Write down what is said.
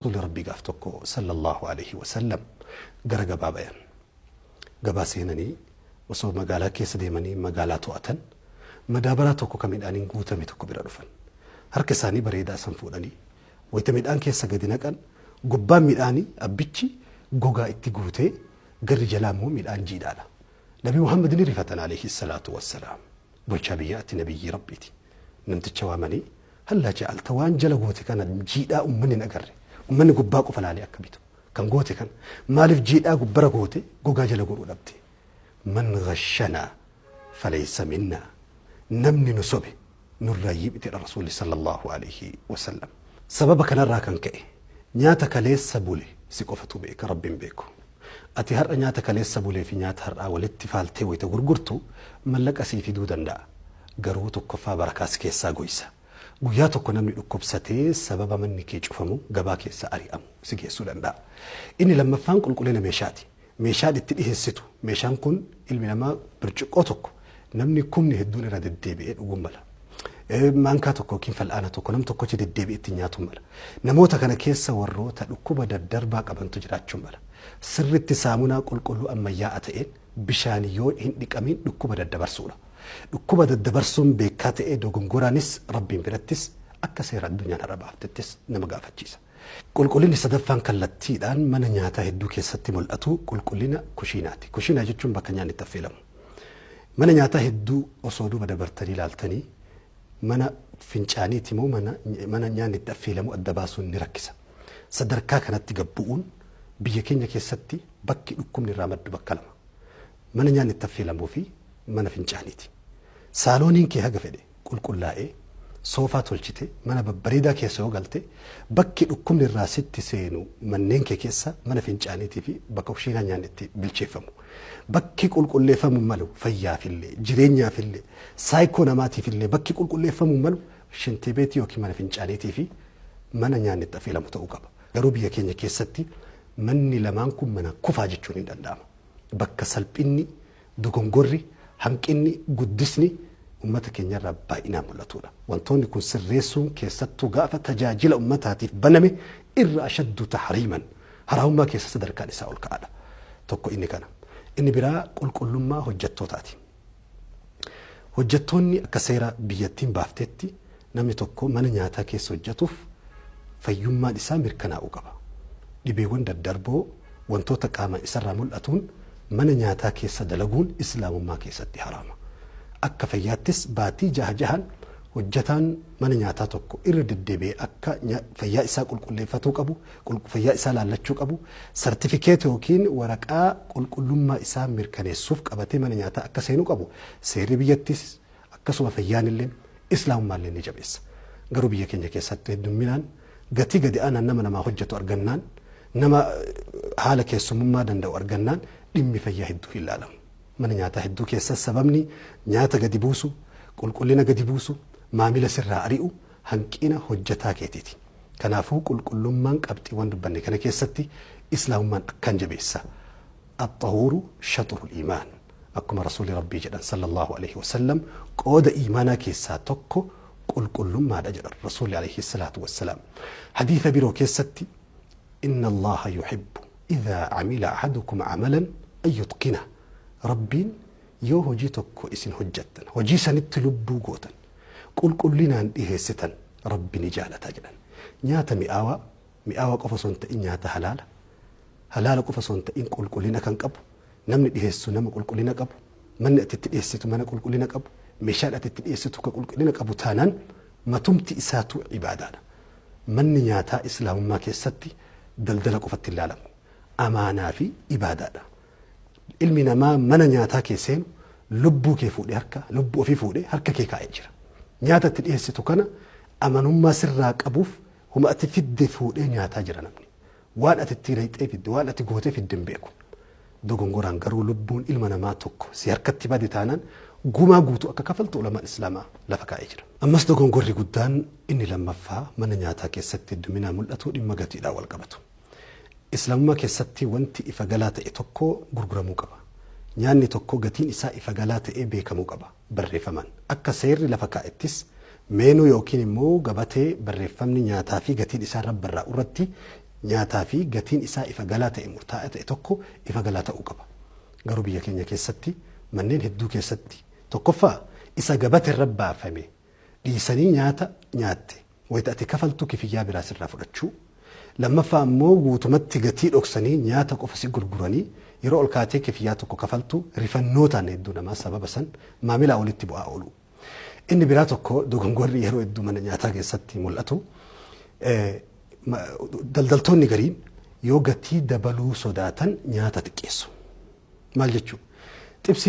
Rasuuli Rabbii gaaf tokko Sallallaahu aleyhi wa sallam gara gabaa bayan. Gabaa seenanii osoo magaalaa keessa deemanii magaalaa to'atan madaabaraa tokko ka midhaaniin guutame tokko bira dhufan. Harka isaanii bareedaa san fuudhanii wayta midhaan keessa gadi naqan gubbaan midhaanii abbichi gogaa itti guutee garri jalaa immoo midhaan jiidhaadha. Nabi Muhammad ni rifatan aleyhi salaatu wassalaam. Bulchaa biyyaati nabiyyii Rabbiiti. Namticha waamanii Hallaa jaalta waan jala goote kana jiidhaa ummanni hin agarre ummanni gubbaa qofa laalee akka bitu kan goote kana maaliif jiidhaa gubbara goote gogaa jala godhuu dhabde man gashanaa faleessa minnaa namni nu sobe nurraa yiibitedha rasuulli sallallahu alayhi wasallam sababa kanarraa kan ka'e nyaata kaleessa bule si qofatu beeka rabbiin beeku. Ati har'a nyaata kaleessa bulee fi nyaata har'aa walitti faaltee wayita gurgurtu mallaqa sii fiduu danda'a. Garuu tokkoffaa barakaa si keessaa goysa. Guyyaa tokko namni dhukkubsatee sababa manni kee cufamu gabaa keessaa ari'amu si geessuu danda'a. Inni lammaffaan qulqullina meeshaati. Meeshaan itti dhiheessitu, meeshaan kun ilmi namaa birciqqoo tokko Namni kumni hedduun irra deddeebi'ee dhuguu mala. Maankaa tokko yookiin fal'aana tokko nam tokkochi deddeebi'ee ittiin nyaatuu mala. Namoota kana keessa warroota dhukkuba daddarbaa qabantu jiraachuu mala. Sirriitti saamunaa qulqulluu ammayyaa'aa ta'een bishaan yoo hin dhiqamiin dhukkuba daddabarsuudha. Dhukkuba daddabarsuun beekaa ta'ee dogongoraanis Rabbiin birattis akka seera addunyaan har'a baaftettis nama gaafachiisa. Qulqullinni sadaffaan kallattiidhaan mana nyaataa hedduu keessatti mul'atu qulqullina kushiinaati. Kushiinaa jechuun bakka nyaanni itti affeelamu. Mana nyaataa hedduu osoo duuba dabartanii ilaaltanii mana fincaaniiti moo mana, mana nyaanni itti affeelamu adda baasuun ni rakkisa. Sadarkaa kanatti gad bu'uun biyya keenya keessatti bakki dhukkubni irraa maddu bakka lama. Mana nyaanni itti affeelamuu fi mana fincaaniiti. Saalooniin kee haga fedhe qulqullaa'ee, soofaa tolchitee, mana babbareedaa keessa yoo galte, bakki dhukkubni irraa sitti seenu manneen kee keessa mana fincaaniitii fi bakka kushiinaa nyaanni itti bilcheeffamu. Bakki qulqulleeffamuu malu fayyaaf illee, jireenyaaf illee, saayikoo namaatiif illee bakki qulqulleeffamuu malu shintibeetii ykn mana fincaaniitii fi mana nyaanni itti affeelamu ta'uu qaba. Garuu biyya keenya keessatti manni lamaan kun mana kufaa jechuun hin danda'ama. Bakka salphinni Dogongorri, hanqinni, guddisni ummata keenyarraa baay'inaan mul'atuudha. Wantoonni kun sirreessuun keessattuu gaafa tajaajila ummataatiif baname irra ashaddu tahriiman, haraamummaa keessa sadarkaan isaa ol ka'aadha. Tokko inni kana. Inni biraa qulqullummaa hojjattootaati. Hojjattoonni akka seera biyyattiin baafteetti Namni tokko mana nyaataa keessa hojjetuuf fayyummaan isaa mirkanaa'uu qaba. Dhibeewwan daddarboo wantoota qaamaan isarraa mul'atuun mana nyaataa keessa dalaguun Islaamummaa keessatti haraama. Akka fayyaattis baatii jaha jahaan hojjetaan mana nyaataa tokko irra deddeebi'ee akka fayyaa isaa qulqulleeffatuu qabu, fayyaa isaa laallachuu qabu, sartifikeeta yookiin waraqaa qulqullummaa isaa mirkaneessuuf qabatee mana nyaataa akka seenuu qabu seerri biyyattiis akkasuma fayyaanilleen, islaamummaalleen ni jabeessa. Garuu biyya keenya keessatti heddumminaan gatii gadi aanaan nama namaa hojjatu argannaan, nama haala keessummummaa danda'u argannaan dhimmi fayyaa hedduu hin laalamu. Mana nyaataa hedduu keessas sababni nyaata gadi buusu, qulqullina gadi buusu, maamila sirraa ari'u hanqina hojjataa keetiiti. Kanaafuu qulqullummaan qabxiiwwan dubbanne kana keessatti islaamummaan akkaan jabeessa. Axxahuuru shaxurul iimaan. Akkuma Rasuulli Rabbii jedhan sallallaahu aleyhi wa sallam qooda iimaanaa keessaa tokko qulqullummaadha jedhan Rasuulli aleyhi salaatu wassalaam. Hadiisa biroo keessatti Inna Allaaha yuhibbu idhaa amila ahadukum amalan an yutqina. Rabbiin yoo hojii tokko isin hojjattan, hojii sanitti lubbuu gootan, qulqullinaan dhiheessitan Rabbi ni jaalata jedhan. Nyaata mi'aawaa mi'aawa qofa osoo hin ta'in nyaata halaala, halaala qofa osoo hin ta'in qulqullina kan qabu, namni dhiheessu nama qulqullina qabu, manni ati itti dhiheessitu mana qulqullina qabu, meeshaan ati itti dhiheessitu ka qulqullina qabu taanaan matumti isaatuu ibaadaadha. Manni nyaataa Islaamummaa keessatti daldala qofatti hin laalamu. Amaanaa fi ibaadaadha. Ilmi namaa mana nyaataa kee seenu lubbuu kee fuudhe harka lubbuu ofii fuudhe harka kee kaa'ee jira. Nyaata itti dhiheessitu kana amanummaa sirraa qabuuf Huma ati fidde fuudhee nyaataa jira namni. Waan ati itti rayxee fidde, waan ati gootee fidde hin beeku. Dogongoraan garuu lubbuun ilma namaa tokko si harkatti bade taanaan gumaa guutuu akka kafaltu ulamaan Islaamaa lafa kaa'ee jira. Ammas dogongorri guddaan inni lammaffaa mana nyaataa keessatti hedduminaan mul'atu dhimma gatiidhaan wal qabatu. Islaamummaa keessatti wanti ifa galaa ta'e tokko gurguramuu qaba. Nyaanni tokko gatiin isaa ifa galaa ta'ee beekamuu qaba. barreeffaman. Akka seerri lafa kaa'ettis meenuu yookiin immoo gabatee barreeffamni nyaataa fi gatiin isaa irra barraa'u irratti nyaataa fi gatiin isaa ifa galaa ta'e murtaa'aa ta'e tokko ifa galaa ta'uu qaba. Garuu biyya keenya keessatti manneen hedduu keessatti tokkoffaa isa gabate irra baafame dhiisanii nyaata nyaatte wayita ati kafaltu kifiyyaa biraa sirraa fudhachuu, lammaffaa ammoo guutumatti gatii dhoksanii nyaata qofa si gurguranii yeroo ol kaatee kifiyyaa tokko kafaltu rifannootaan hedduu namaa sababa san maamilaa olitti bu'aa ooluu. Inni biraa tokko dogongorri yeroo hedduu mana nyaataa keessatti mul'atu daldaltoonni gariin yoo gatii dabaluu sodaatan nyaata xiqqeessu. Maal jechuu? Xibsiin